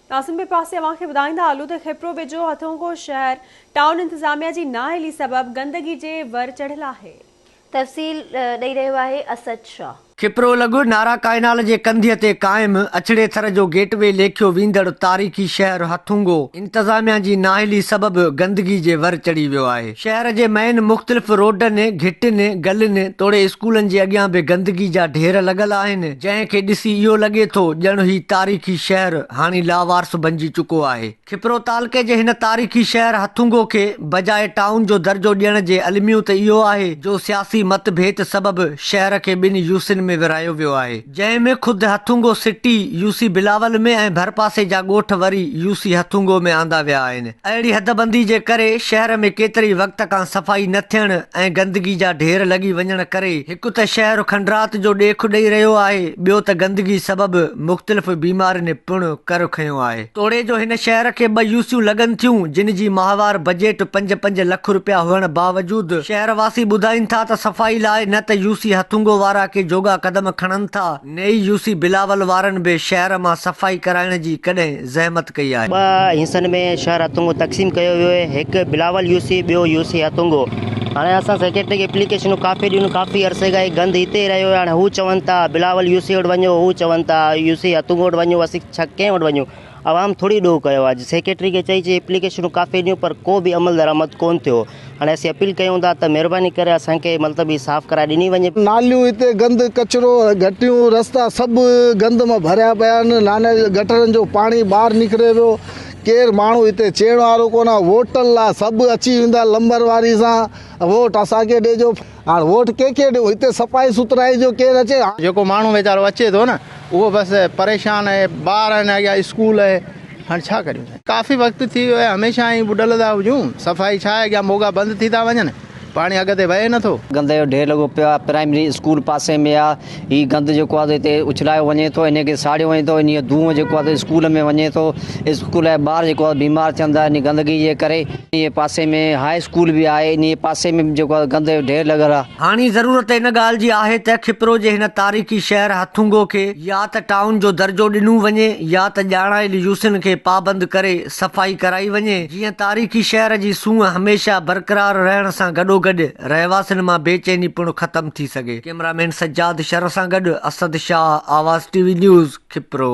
قاسم ٻئي پاسي اوهان کي ٻڌائيندا هلون ته خيپرو ويجهو هٿونگو شهر ٽائون انتظاميا جي نااهلي سبب گندگي جي ور چڙهيل آهي. تفصيل ڏئي رهيو آهي اسد شاهه. خيپرو لڳ نارا ڪائنال جي ڪنڌيء تي قائم اڇڙي ٿر جو گيٽ وي ليکيو ويندڙ تاريخي شهر هٿونگو انتظاميا جي نااهلي سبب گندگي جي ور چڙهي ويو آهي. شهر جي مئن مختلف روڊن، گهٽين، گلين توڙي اسڪولن جي اڳيان به گندگي جا ڍير لڳل آهن، جنهن کي ڏسي اهو لڳي ٿو ڄڻ هي تاريخي شهر هاڻي لاوارث بنجي چڪو آهي. کپرو تعلقي جي هن تاريخي شهر هٿونگو کي بجاء ٽائون جو درجو ڏيڻ جي الميو ته اهو آهي جو سياسي مت ڀيت سبب شهر کي ٻن يوسين ۾ ورهايو ويو آهي. جنهن ۾ خود Hathungo city, U C Bilawal ۾ ۽ ڀرپاسي جا ڳوٺ وري يو سي هٿونگو ۾ آندا ويا آهن. اهڙي حدبندي جي ڪري شهر ۾ ڪيتري وقت کان صفائي نه ٿيڻ ۽ گندگي جا ڍير لڳي وڃڻ ڪري هڪ ته شهر کنڊرات جو ڏيک ڏئي رهيو آهي ٻيو ته گندگي سبب مختلف بيمارين پڻ ڪر کنيو آهي. توڙي جو هن شهر کي ٻه يوسيون لڳن ٿيون جن جي ماهوار بجيٽ پنج پنج لک رپيا هئڻ باوجود شهر واسي ٻڌائين ٿا ته صفائي لاء نه ته يوسي هٿونگو وارا ڪي جوڳا قدم کڻن ٿا نه ئي يوسي بلاول وارن به شهر مان صفائي ڪرائڻ جي ڪڏهن زحمت ڪئي آهي. ٻه حصن ۾ شهر هٿونگو تقسيم ڪيو ويو آهي هڪ بلاول يوسي ٻيو يوسي هٿونگو هاڻي اسان سيڪريٽري کي اپليڪيشنون ڪافي ڏنيون ڪافي عرصي کان هي گند هتي ئي رهيو آهي هاڻي هو چون ٿا بلاول يوسي وٽ وڃو هو چون ٿا يوسي هٿونگو وٽ وڃو ڇا ڪنهن وٽ وڃون؟ عوام ٿوري ڏوهه ڪيو آهي، سيڪريٽري کي چئي چئي اپليڪيشنون ڪافي ڏنيون پر ڪو به عمل درآمد ڪونه ٿيو، هاڻي اسين اپيل ڪيون ٿا ته مهرباني ڪري اسان کي ملتب هي صاف ڪرائي ڏني وڃي. ناليون هتي گند، ڪچرو، گهٽيون، رستا سڀ گند مان ڀريا پيا آهن، نانئن جي گٽرن جو پاڻي ٻاهر نڪري ويو، ڪير ماڻهو هتي چيڻ وارو ڪونه، ووٽن لا سڀ اچي ويندا لمبر واري سان ووٽ اسان کي ڏيجو. هاڻ ووٽ ڪنهن کي ڏيون هتي صفائي سٿرائي جو ڪير اچي هاڻ. جيڪو ماڻهو ويچارو اچي ٿو نه اهو بس پريشان اهي ٻار آهن اڳيان اسڪول اهي هاڻ ڇا ڪريون سائين ڪافي وقت ٿي ويو اهي هميشه ائين ٻڏل ٿا هجون صفائي ڇا اڳيان موڳا بند ٿي ٿا وڃن پاڻي اڳتي وهي نٿو. گندي جو ڍير لڳو پيو آهي پرائمري اسڪول پاسي ۾ آهي هي گند جيڪو آهي هتي اڇلايو وڃي ٿو ان کي ساڙيو وڃي ٿو ان جو دونهون جيڪو آهي اسڪول ۾ وڃي ٿو اسڪول جا ٻار جيڪو آهي بيمار ٿين ٿا ان گندگي جي ڪري انهي پاسي ۾ هاء اسڪول به آهي انهي پاسي ۾ به جيڪو آهي گند جو ڍير لڳل آهي. هاڻي ضرورت ان ڳالهه جي آهي ته کپرو جي هن تاريخي شهر هٿونگو کي يا ته ٽائون جو درجو ڏنو وڃي يا ته ڄاڻايل يوسين کي پابند ڪري صفائي ڪرائي وڃي جيئن تاريخي شهر جي سونهن هميشه برقرار رهڻ سان گڏوگڏ رهواسين مان بيچيني پڻ ختم ٿي سگهي. ڪيمرا مين سجاد شر سان گڏ Asad Shah Awaz T V news Khipro.